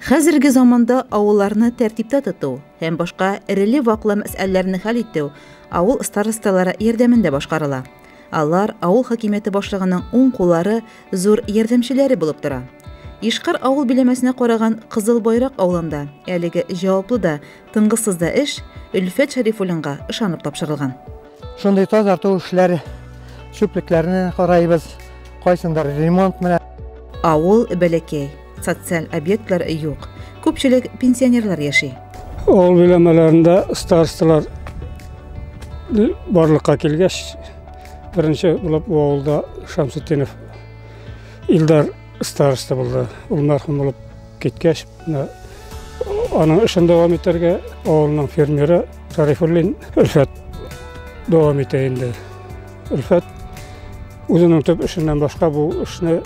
Хәзерге заманда авылларны тәртиптә тоту һәм башка эреле-ваклы мәсьәләләрне хәл итү авыл старосталары ярдәмендә башкарыла. Алар авыл хакимияте башлыгының уң куллары, зур ярдәмчеләре булып тора. Ишкар авыл биләмәсенә караган Кызыл Байрак авылында әлеге җаваплы да Тынгысыз да эш Өлфәт Шәрифуллинга ышанып тапшырылган. Шундый тазарту эшләре, чүплекләрне карайбыз, кайсындыр ремонт менә. Авыл бәләкәй, социаль объектлар юк. Күпчелек пенсионерлар яши. Авыл биләмәләрендә старосталар барлыкка килгәч, беренче булып бу авылда Шамсутдинов Илдар староста булды. Ул мәрхүм булып Киткәч, аның эшен дәвам итәргә авылның фермеры Тарифуллин Өлфәт дәвам итә инде. Өлфәт үзенең төп эшеннән башка бу эшне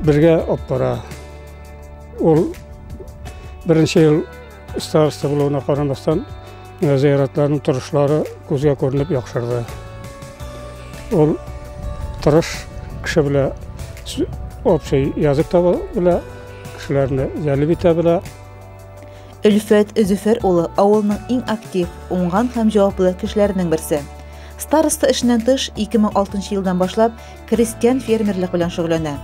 бергә алып бара. Ул беренче ел староста булуына карамастан, Зыяратларның торышлары күзгә күренеп яхшырды. Ул тырыш кеше белә общий язык таба белә, кешеләрне җәлеп итә белә. Өлфәт Зөфәр улы авылның иң актив, уңган һәм җаваплы кешеләренең берсе. Староста эшеннән тыш 2006 елдан башлап крестьян фермерлык белән шөгыльләнә.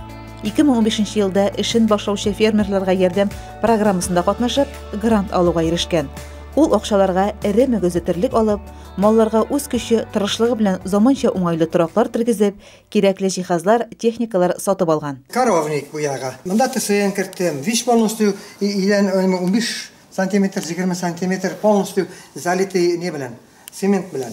2015 елда эшен башлаучы фермерларга ярдәм программасында катнашып, грант алуга ирешкән. Ул акчаларга эре мөгезле терлек алып, малларга үз көче, тырышлыгы белән заманча уңайлы тораклар тергезеп, кирәкле җиһазлар, техникалар сатып алган. Коровник бу ягы. Монда ТСН керттем. Весь полностью идән унбиш сантиметр, егерме сантиметр полностью залитый не белән, цемент белән.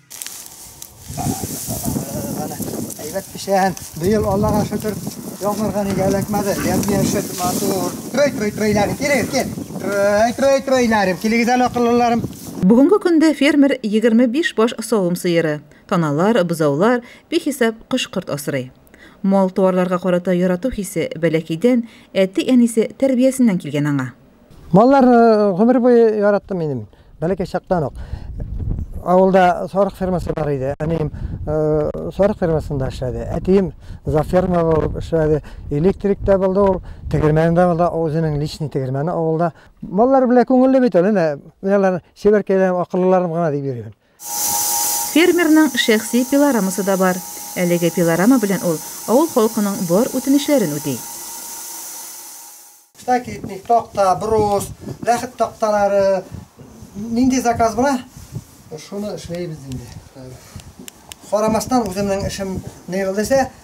Әйбәт пешән. Быел Аллага шөкер, яңгырга нигә эләкмәде. Ямь-яшел, матур. Трой, трой, тройларым, килегез, кил. Трой, трой, тройларым, килегез әле, акыллыларым. Бүгенге көндә фермер 25 баш савым сыеры, таналар, бозаулар, бихисап кош-корт асрый. Мал-туарларга карата ярату хисе бәләкәйдән әти-әнисе тәрбиясеннән килгән аңа. Маллар гомер буе яраттым минем. Бәләкәй чактан ук. Авылда сарык фермасы бар иде. Әнием сарык фермасында эшләде. Әтием за ферма булып эшләде. Электрик тә булды ул, тегермән дә булды, үзенең личный тегермәне авылда. Маллар белән күңелле бит ул, әнә, менә алар чибәркәйләрем, акыллыларым гына дип йөрим. Фермерның шәхси пилорамасы да бар. Әлеге пилорама белән ул авыл халкының бар үтенечләрен үти. Стакитник, такта, брус, ләхет такталары, нинди заказ була, шуны эшләйбез инде. Карамастан үземнең эшем ни булды дисә,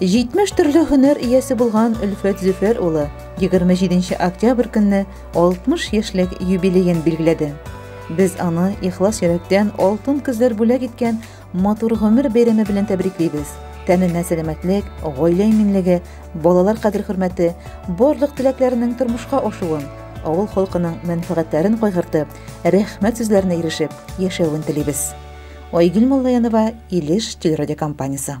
70 төрле һөнәр иясе булган Өлфәт Зөфәр улы 27 октябрь көнне 60 яшьлек юбилеен билгеләде. Без аны ихлас йөрәктән алтын көзләр бүләк иткән матур гомер бәйрәме белән тәбриклибез. Тәненә сәламәтлек, гаилә иминлеге, балалар кадер-хөрмәте, барлык теләкләренең тормышка ашуын, авыл халкының мәнфәгатьләрен кайгыртып, рәхмәт сүзләренә ирешеп яшәвен телибез. Айгөл Моллаянова, Илеш телерадиокомпаниясе.